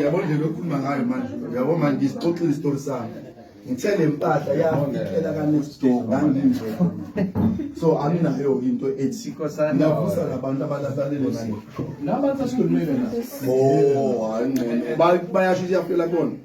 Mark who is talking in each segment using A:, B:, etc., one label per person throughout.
A: yabo ndlela okhuluma ngayo manje yabo manje ngisixoxile isitori sami ngithe le mpahla yafikela ka-next door nganginje so anginayo into ethi navusa labantu abalasalele manje bayasho
B: ukuthi
A: yafela kona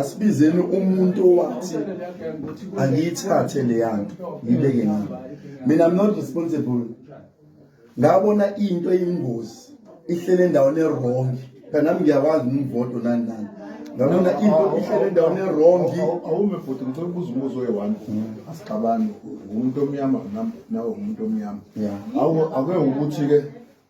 A: asibizeni umuntu owathi angiyithathe leyanto ngibeke ngami mina i'm not responsible ngabona into eyingozi ihlele endaweni erong phela nami ngiyakwazi ngimvodo nani nani ngabona into ihlele endaweni erongi awume futhi ngicela
C: ukubuza umbuzo oyi-one asixabani ngumuntu omnyama nawe ngumuntu omnyama awuke
A: ukuthi-ke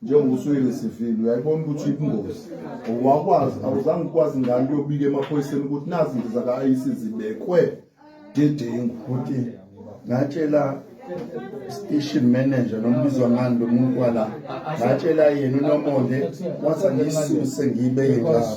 C: njengoba usuke ngesivile uyayibona ukuthi ibungozi wakwazi awuzange ukwazi ngani uyobika emaphoyiseni ukuthi nazi izinto zaka-ic zibekwe dedengu ukuthi
A: ngatshela station manager nombizwa ngani lo muntu wala ngatshela yena unomonde wathi angisuse ngibe
B: yinjalo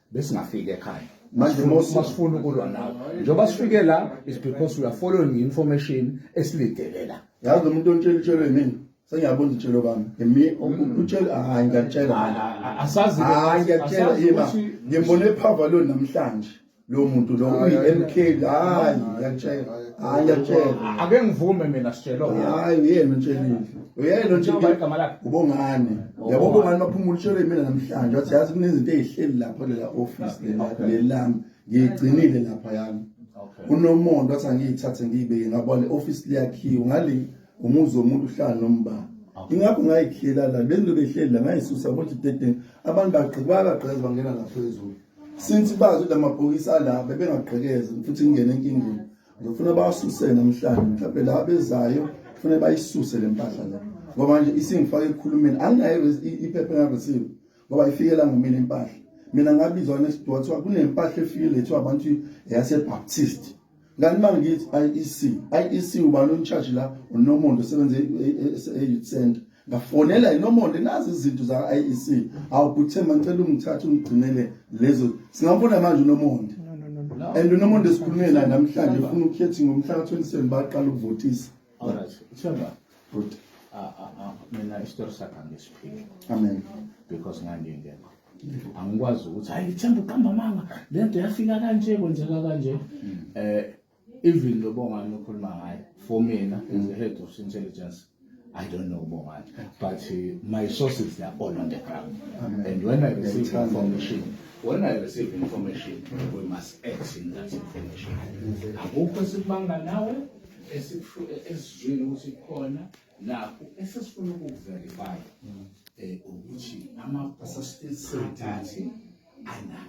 B: besingafiki ekhaya manje masifuna
A: ukulwa
B: nawe njengoba sifike la is because we are following information esilidele la yazi
A: umuntu ontshela itshelo yimini sengiyabona itshelo bami yimi mm. utshela hayi ngiyatshela asazi hayi
B: ngiyatshela yima ngimbone
A: ephava
B: lo
A: namhlanje lo muntu lo uyi-mk hayi ngiyatshela hayi ngiyatshela ake ngivume mina
B: sitshelo hayi uyena
A: utshelile uyena njengoba igama lakhe
B: ubongani oh,
A: yabo ubongani baphuma ulishole mina namhlanje wathi yazi kunezinto ezihleli lapha lela office lela lelami ngiyigcinile lapha yami unomonto wathi angiyithathe ngiyibeke ngabona office liyakhiwa ngale umuzi womuntu uhlala nombani ingakho ngayikhela la benzo behleli la ngayisusa ngothi dedeni abantu bagqika bagqeza bangena ngaphezulu since bazi ukuthi amabhokisi alapha bengagqekeze futhi ngingena enkingeni ngifuna basuse namhlanje mhlawumbe la bezayo kufanele bayisuse le mpahla la ngoba manje isingifake ekukhulumeni anginayo iphepha engareceive ngoba ifikela ngumina impahla mina ngabizwa nesidwa kuthiwa kunempahla efike lethiwa abantu yasebaptist kanti uma ngithi IEC IEC ubani uncharge la unomuntu osebenza e-youth e-, e-, center ngafonela inomonde nazi izinto za-IEC awu kuthemba ngicela ungithathe ungigcinele lezo singambona manje unomonde and unomonde sikhulume naye namhlanje funa ukukhethi ngomhla ka-27 baqala ukuvotisa ah,
B: ah, ah, mina isitori sakhe angisiphili amen
A: because
B: ngangingekho angikwazi ukuthi hayi themba uqamba amanga le nto yafika kanje kwenzeka kanje um even lo bongani okhuluma ngaye for mina as the head of intelligence I don't know Bongani, but uh, my sources they are all on the ground. Amen. And when I receive information, when I receive information, we must act in that information. Akukho esikubanga nawe esizwile ukuthi khona nakho esesifuna ukukuverify um ukuthi amaphasasiteti anani